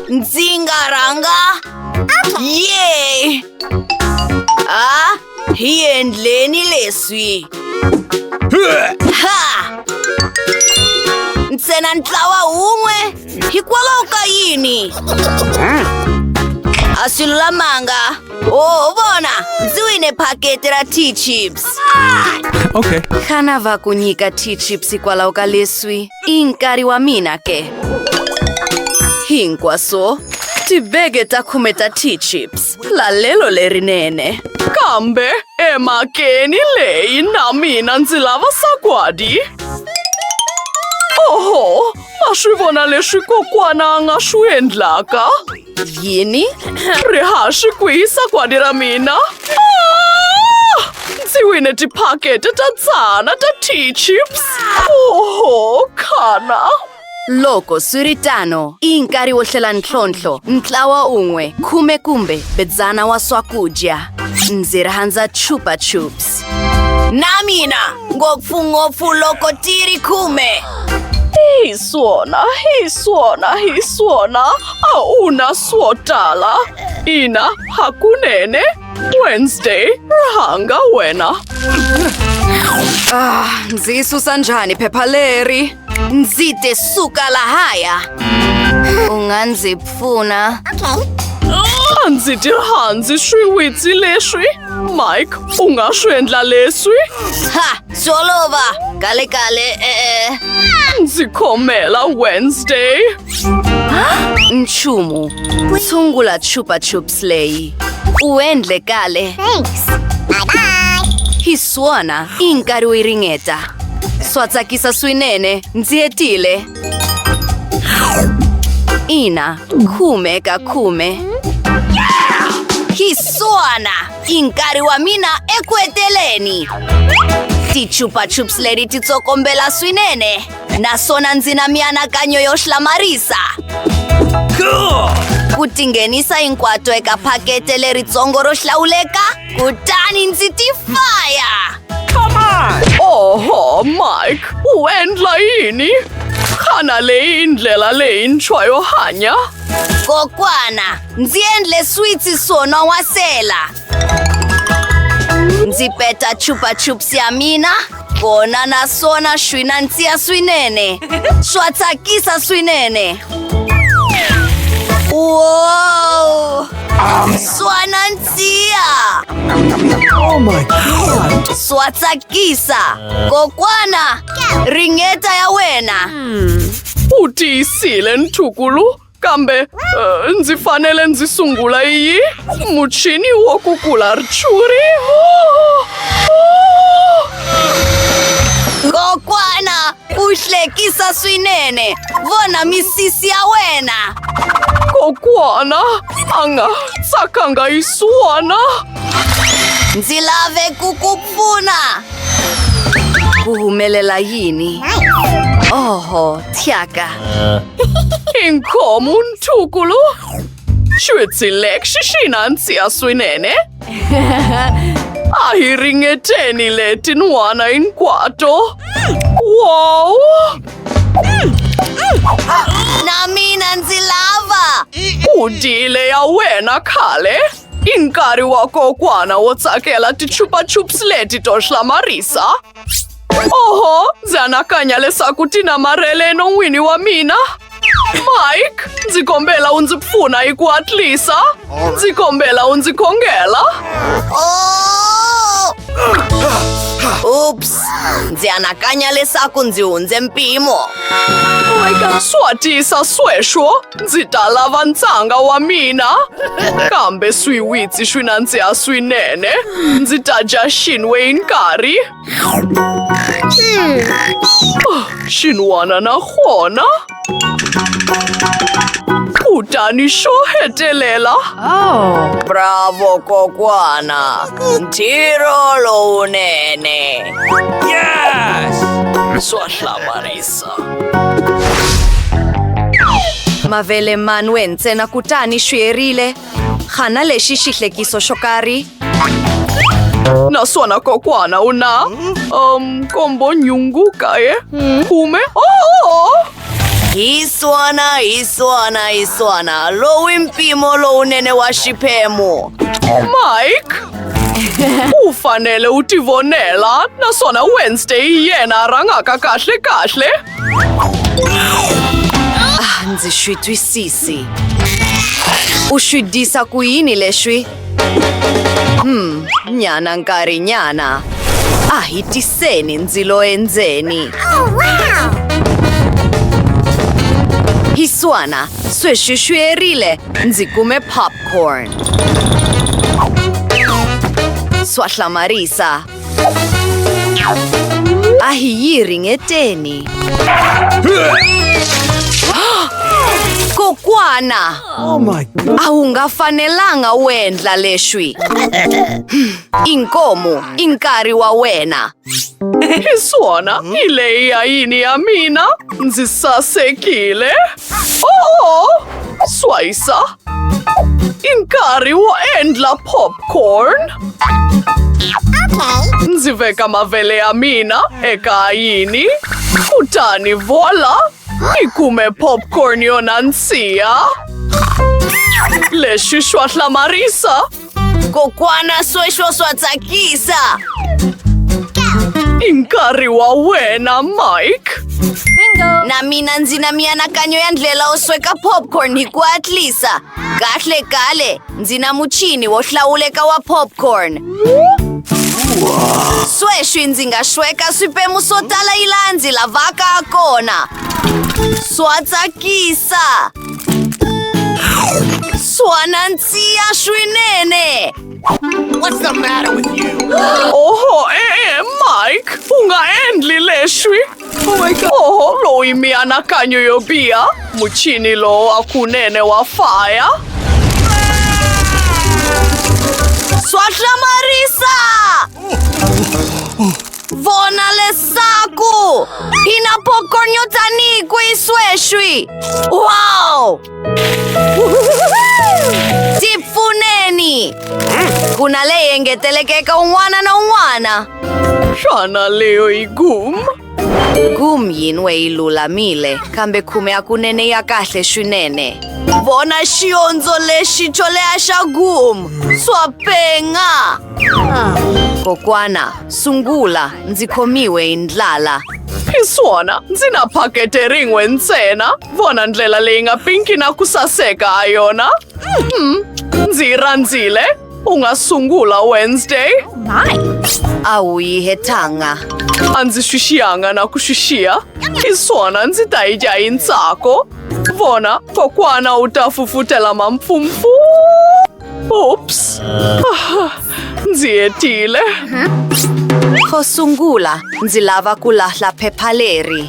Ndzi nga rhanga ye a hi endleni leswi ha ntsena ntlawa wun'we hikwalaho ka yini a swi lulamanga oho vona ndzi wine phaketi ra t-chips okay xana va ku nyika t-chips hikwalaho ka leswi I nkarhi wa mina ke. Hinkwaswo tibege ta khume ta tea chips. Lalelo lerinene. Kambe emakeni leyi na mina ndzi lava sagwadi. Oho, ma swi vona leswi kokwana a nga swi endlaka? Yini? Rihaxi ku hisa kwadi ra mina. Ah! Ndzi wine tiphakete ta tsana ta tea chips. Oho, khana. Loko swi ri tano, i nkarhi wo hlela ntlhontlho, ntlawa un'we, khume kumbe bedzana wa swakudya. Ndzi rhandza chupa chups. Na mina, ngopfungopfu loko ti ri khume. Hi swona, hi swona, hi swona. A wu na swo tala. Ina, hakunene. Wednesday, rhanga wena. Ah, ndzi yi susa njhani phepha leri? Ndzi te suka lahaya. U nga ndzi pfuna. A ndzi ti rhandzi swiwitsi leswi. Mike, u nga swi endla leswi? Ha, swi olova. Kale kale, e-e. Ndzi khomela Wednesday. Nchumu, tshungula Chupa Chups leyi. U endle kahle. Thanks. Bye bye. Hi swona, i nkarhi wo yi ringeta. Swa tsakisa swinene, ndzi hetile. Ina, khume ka khume. Hi swona, i nkarhi wa mina eku heteleni. Ti Chupa Chups leti ti tsokombela swinene. naswona ndzi na mianakanyo yo hlamarisa ku tinghenisa hinkwato eka phakete leritsongo ro hlawuleka kutani ndzi ti faya oho mike u endla yini xana leyi ndlela leyintshwa yo hanya kokwana ndzi endle switsi swo non'wasela Ndzi peta chupa chups ya mina kona naswona swi nandziha swinene swa tsakisa swinene wow swa nandziha swa tsakisa kokwana ringeta ya wena U tiyisile ntukulu kambe uh, ndzi fanele ndzi sungula yi muchini wo kukula rchuri kokwana u hlekisa swinene vona misisi ya wena kokwana a nga tsakanga yi suwana ndzi lave ku ku Pfuna! Ku humelela yini? Oho, thyaka! Inkomu ntukulu! Xwitsi lexi xi na nsiya swinene! A hi ringeteni leti n'wana hinkwato! Wow! Na mina ndzi lava! Ku dile ya wena khale! I nkarhi wa kokwana wo tsakela tichupachups leti to hlamarisa oho ndzi anakanya leswaku ti namarhele enon'wini wa mina mike ndzi kombela u ndzi pfuna hi ku hatlisa ndzi kombela u ndzi khongela ups ndzi anakanya leswaku ndzi hundze mpimo swa tisa sweswo Ndzi ta lava ntshanga wa mina kambe swiwitsi swi nandziha swinene ndzi ta dya xinwe hi nkarhi ah, xin'wana na kona kutani xo hetelela oh. bravo kokwana ntirho lowunene yes swa hlamarisa adesso. Mavele manwe ntsena kutani swi herile. Xana lexi xi hlekiso xo karhi? Naswona kokwana u na um kombo nyungu kaye khume oh! Hi swona, hi swona, hi swona. Lowu i mpimo lowunene wa xiphemu. Mike U fanele u ti vonela naswona Wednesday hi yena a rhangaka kahle kahle. Ah, ndzi swi twisisi. U swi disa ku yini leswi? Hmm, nyana nkarhi nyana. A hi tiseni ndzilo endzeni. Hiswana, sweswi swi erile Ndzi kume popcorn. Swa hlamarisa. A hi yi ringeteni. Kokwana! Oh my God. A wu nga fanelanga u endla leswi. Inkomu, i nkarhi wa wena. Suona, mm? lei a ini a mina, nzi sa se kile. Oh, swaisa. Inkari wo endla popcorn. Okay. Ndzi veka mavele ya mina eka ayini, kutani vola, ni kume popcorn yo nandziha. Lexi xwa hlamarisa Kokwana sweswo swa tsakisa! I nkarhi wa wena, Mike! Na mina ndzi na mianakanyo ya ndlela wo sweka popcorn hi ku hatlisa. Kahle kale, ndzi na muchini wo hlawuleka wa popcorn. Sweswi ndzi nga sweka swiphemu swo tala yi laha ndzi lavaka ha kona. Swa tsakisa! Sua nanzia swinene! What's the matter with you? Oho, eh, Mike, funga endli leswi. Oh my God. Oho, loyi mianakanyo yo biha. Muchini lowo wa kunene wa faya. Swa hlamarisa! Vona leswaku hi na pokonyo tanihi kwihi sweswi wow ti pfuneni ku na leyi engeteleke eka un'wana na un'wana xana leyo yi gum gum yin'we yi lulamile kambe khume ya kunene ya kahle swinene vona xiondzo lexi xo leha xa gum swa penga Kokwana, sungula ndzi khomiwe hi ndlala. Hi swona, ndzi na phakete rin'we ntsena. Vona ndlela leyi nga pinki na ku saseka ha yona. Mhm, Ndzi yi rhandzile. U nga sungula Wednesday. A wu yi hetanga. A ndzi swi xiyanga na ku swi xiya. Hi swona, ndzi ta yi dya hi ntsako. Vona, kokwana u ta fufutela mampfumfu. Ups! Ah, ndzi hetile. Ko sungula, ndzi lava ku lahla phepha leri.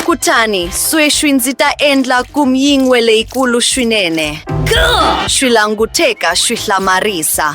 Kutani, sweswi ndzi ta endla kumyingwe leyikulu swinene. Swi languteka swi hlamarisa.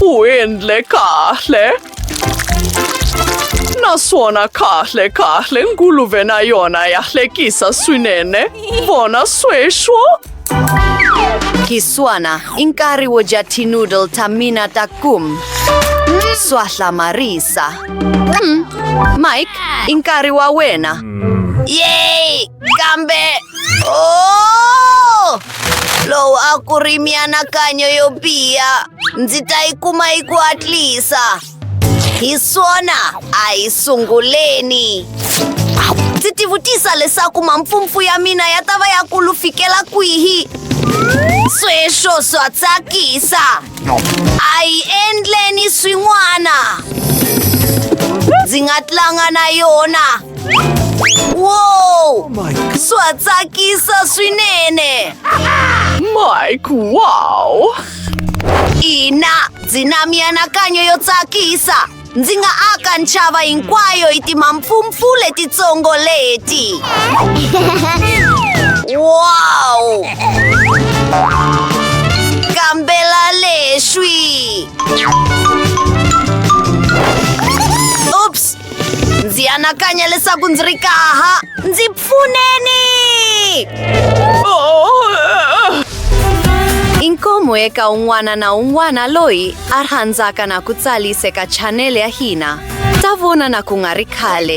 Uendle kahle. Naswona kahle kahle nguluve na yona ya hlekisa swinene. Vona sweswo. Kiswana, i nkarhi wo dya tinoodle ta mina ta kum. Swa hlamarisa. Mm. Mike, i nkarhi wa wena. Yay! Gambe! Oh! Lowu a ku ri mianakanyo yo biha. Ndzi ta yi kuma yi ku hatlisa. Hi swona a hi sunguleni. Ndzi tivutisa leswaku mampfumpfu ya mina ya ta va ya kulu fikela kwihi. Sweswo swa tsakisa. A hi endleni swin'wana. Ndzi nga tlanga na yona. Wow! Oh Sua tsakisa swinene! Mike, wow! Ina, ndzi na mianakanyo yo tsakisa! Ndzi nga aka ntshava hinkwayo hi timampfumpfu letitsongo leti! Wow! Kambela leswi! ndzi anakanya leswaku ndzi ri kaha ndzi pfuneni i nkomo eka un'wana na un'wana loyi a rhandzaka na ku tsarisa eka chanele ya hina ta vona na ku nga ri khale